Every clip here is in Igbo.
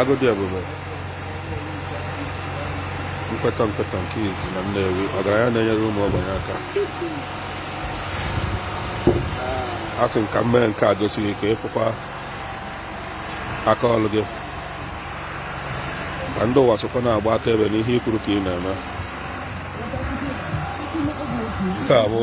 agụ dị ebube nkweta nkweta nke izizi na Nnewi ọgaranya na-enyere ụmụ ogbenye aka asị m ka m mee nke a gosi gị ka ị fụkwa aka ọrụ gị ka ndị ụwa sokwa na-agba akaebe n'ihe i kwuru ka ị na-eme nke a bụ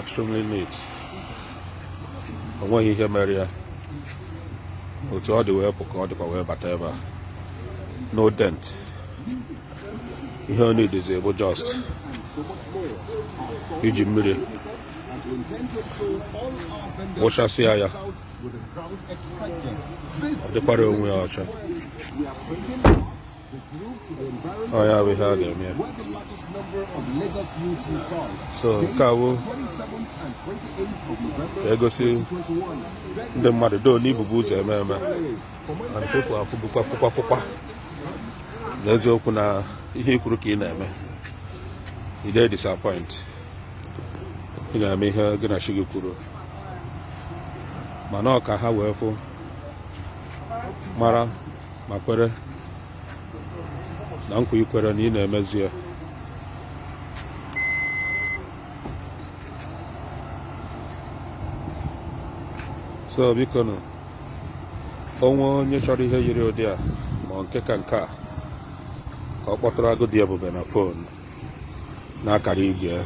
extremely neat o nweghị ihe mere ya otu ọ dị wee pụ ka ọ dịkwa wee bata ebe a no dent ihe ọ needzi bụ just iji mmiri wụchasịa ya ọ dịkwara onwe ya ọcha ọ ya bụ ihe a ga-eme ya so ka e wee gosi ndị mmadụ doo na i bubu ụzọ eme eme and people afụbukwa fụkwa fụkwa n'eziokwu na ihe i kwuru ka ị na-eme ị dịghị disappoint ị na-eme ihe gị na chi gị kwuru mana ọ ka ha wee fụ mara ma kwere na nkwa i kwere na ị na-emezu ya so biko nụ o nwee onye chọrọ ihe yiri ụdị a ma ọ nke ka nke a ka ọ kpọtụrụ agụ dị ebube na fon n'akara igwe ya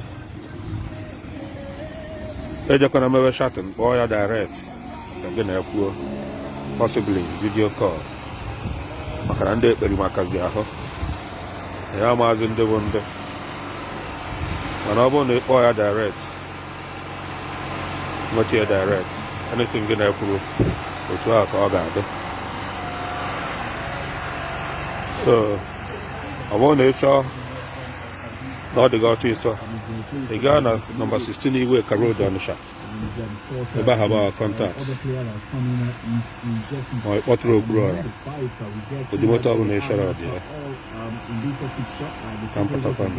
ejekwana mewe chatting kpọọ ya direct ka gị na ya kwuo possibly video call maka na ndị ekperima kazị ahụ ya amazị ndị bụ ndị mana ọ bụrụ na ị kpọọ ya direct nweta ya direct anything gị na ya kwuru otu ahụ ka ọ ga-adị ọ bụrụ na ị chọọ na ọ dị gị ọsịsọ ị gaa na nọmba 16 Iweka Road Ọnịsha ebe ahụ bụ contact ma ị kpọtụrụ okpuru ọra ụdị moto ọbụla ị chọrọ dị ya ka m pụtakwanụ